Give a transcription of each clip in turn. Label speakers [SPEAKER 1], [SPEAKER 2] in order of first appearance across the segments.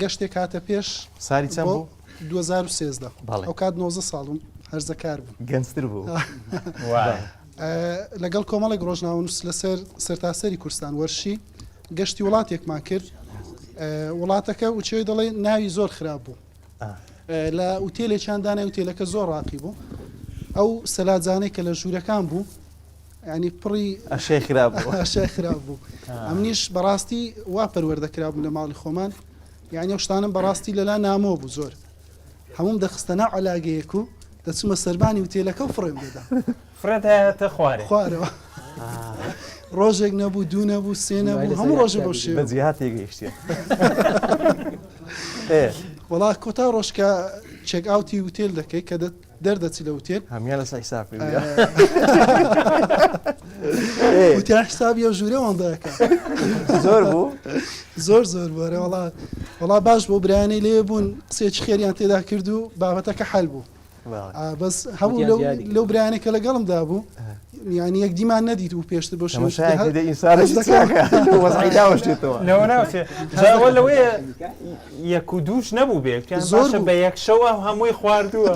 [SPEAKER 1] گەشتێک هاتە پێش ساری چەند بوو؟ بۆ
[SPEAKER 2] دوو هەزار و سێزدە.
[SPEAKER 1] بەڵێ. ئەو کات نۆزدە ساڵ بووم، هەرزەکار بووم. گەنجتر بوو. وای. لەگەڵ کۆمەڵێک ڕۆژنامەنووس لەسەر سەرتاسەری کوردستان وەرشی گەشتی وڵاتێکمان کرد. وڵاتەکە وچەوی دەڵێ ناوی زۆر خراپ بوو. لە ئوتێلێکیان دانای، ئوتێلەکە زۆر ڕاقی بوو. ئەو سەلاجانەی کە لە ژوورەکان بوو، یانی پڕی ئەشیای خراپ بوو
[SPEAKER 2] ئەشیای خراپ بوو
[SPEAKER 1] ئەمنیش بەڕاستی وا پەروەردە کرابووم لە ماڵی خۆمان یعنی ئەو شتانم بەڕاستی لەلا نامۆ بوو زۆر هەموم دەخستە ناو علاگەیەک و دەچمە سەربانی و تێلەکە و فڕێم دەدا فرێت هەیەتە
[SPEAKER 3] خوارێ خوارەوە
[SPEAKER 1] ڕۆژێک نەبوو دوو نەبوو سێ نەبوو هەموو ڕۆژە بۆ شێ بەجیهات تێگەیشتێ وڵا کۆتا ڕۆژکە چێک ئاوتی وتێل دەکەی کە دەت دەردەچی لە وتێن هەمیان لەسەر حساب وتیان حسابی ئەو ژوورە وەندەکە زۆر بوو
[SPEAKER 2] زۆر زۆر
[SPEAKER 1] بۆرە وڵا وڵا باش بۆ برایانی لێ بوون قسێکی خێریان تێدا کرد و بابەتەکە حل بوو بەس هەموو لەو برایانێکە لەگەڵمدا بوو یانی یەک دیمان نەدیت بوو پێشتر
[SPEAKER 3] بۆ لەوەیە یەک و دووش نەبوو بێت زۆر بە یەک شەوە هەمووی خواردووە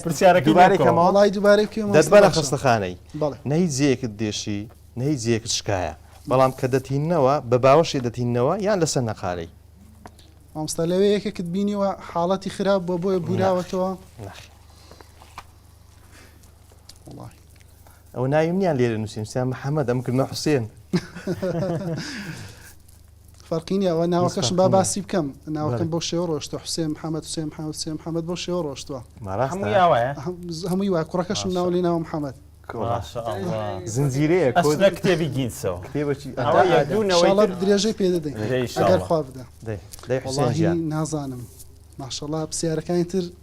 [SPEAKER 1] پرسیارەکەماڵی دوبارە دەستبارە خستەخانەی
[SPEAKER 2] نەی جێکت دێشی نەی جێکت شکایە بەڵام کە دەتینەوە بە باوەشی دەتینەوە یان لەسەر نەقارەی مامستا
[SPEAKER 1] لەوێ یەکێکت بینیوە حاڵەتی خراپ بۆ بۆیە بوراوەتەوە ناخی
[SPEAKER 2] ئەو ناویم نیان لێرە نووسیم سیان محەممەد ئەم کردمە حوسێن
[SPEAKER 1] فەرقینی ئەوە ناوەکەشم با باسی بکەم ناوەکەم بۆ شێوە ڕۆشتە حوسێن محەممەد سێ محەممەد سێ محەممەد بۆ شێوە ڕۆشتوە هەمووی وای کوڕەکەشم ناو لێ ناوە محەممەد زنجیرەیە
[SPEAKER 2] کۆدە کتێبی
[SPEAKER 3] گینسەوە
[SPEAKER 1] درێژەی پێ دەدەین خوا بدە نازانم ماشەڵا پرسیارەکانی تر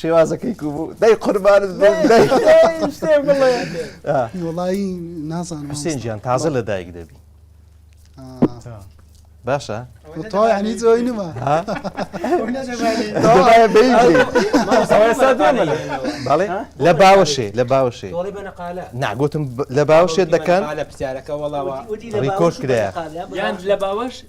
[SPEAKER 2] شێوازەکەی کوو بوو دەی قوربانت بم دەی شتێ بڵێ
[SPEAKER 1] وەڵایی نازانم حوسێن گیان تازە لە
[SPEAKER 2] دایک دەبی باشە تۆنی
[SPEAKER 1] زۆی نما
[SPEAKER 2] بەڵێ لە باوەشێ لە باوەشێ ناگوتم لە
[SPEAKER 4] باوەشێت
[SPEAKER 2] دەکەن لە پرسیارەکە
[SPEAKER 4] وەڵاوە
[SPEAKER 2] ڕیکۆش کرایە
[SPEAKER 4] لە
[SPEAKER 2] باوەش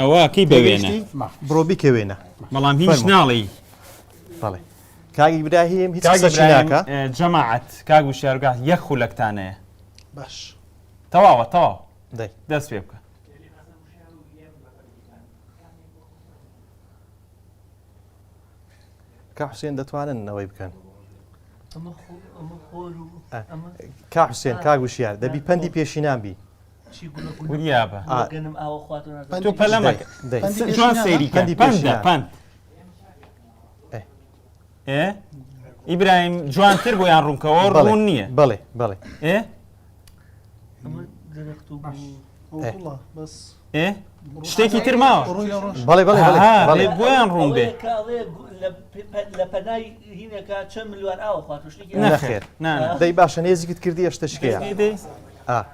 [SPEAKER 3] ئەوە کەی بەوێنە بڕۆ بیکە
[SPEAKER 2] وێنە بەڵام هیچ ناڵی
[SPEAKER 3] بەڵێ
[SPEAKER 2] کاک ئیبراهیم هیچ ناکە جەماعەت کاک
[SPEAKER 3] و شارگاه یەک خولەکتانەیە باش
[SPEAKER 1] تەواوە
[SPEAKER 3] تەواو دەست پێ
[SPEAKER 2] بکە کە
[SPEAKER 3] حوسێن
[SPEAKER 2] دەتوانن نەوەی بکەن کا حوسێن کاگوشیار دەبی پەندی پێشینان بی
[SPEAKER 3] ئیبراهیم جوانتر بۆ یان ڕوونکەوە ڕوون نییە بڵێ بڵێ ئێ
[SPEAKER 1] ئێ شتێکی
[SPEAKER 3] تر ماوە بەڵێ بەڵێ
[SPEAKER 2] بۆیان ڕوون بێ دەی باشە نێزیکت کردی ئەشتە شکێ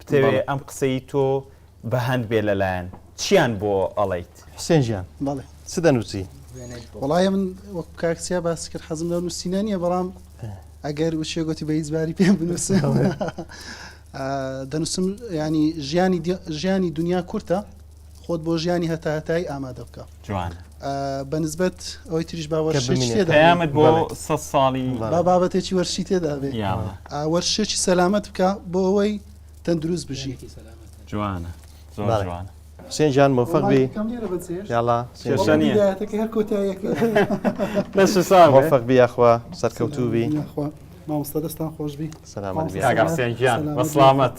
[SPEAKER 3] بتەوێ ئەم قسەی تۆ بەهەند بێ لەلایەن چیان بۆ ئەڵیت حسێن ژیان
[SPEAKER 2] بەڵێ چ دەنووسی وڵایە من
[SPEAKER 1] وەک کاکسیا باس کرد حەزم لە نووسینە نیە بەڵام ئەگەر وچێ گوتی بە هیچباری پێ بنووس دەنووسم ینی ژیانی دنیا کورتە خۆت بۆ ژیانی هەتا هەتایی ئامادە بکە جوان
[SPEAKER 3] بە نسبەت
[SPEAKER 1] ئەوەی تریش باوەشتێدامت بۆ سە
[SPEAKER 3] ساڵی با بابەتێکی وەرشی
[SPEAKER 1] تێدابێ وەرشێکی سەلامت بکە بۆ ئەوەی تەندروست بژی جوانە
[SPEAKER 3] جوانە حسێن جان مۆفق
[SPEAKER 2] بی یاڵا مۆفق بی یاخوا سەرکەوتوو بی مامۆستا
[SPEAKER 1] دەستان خۆش
[SPEAKER 3] بی
[SPEAKER 2] سەلامەت
[SPEAKER 3] بی سەلامەت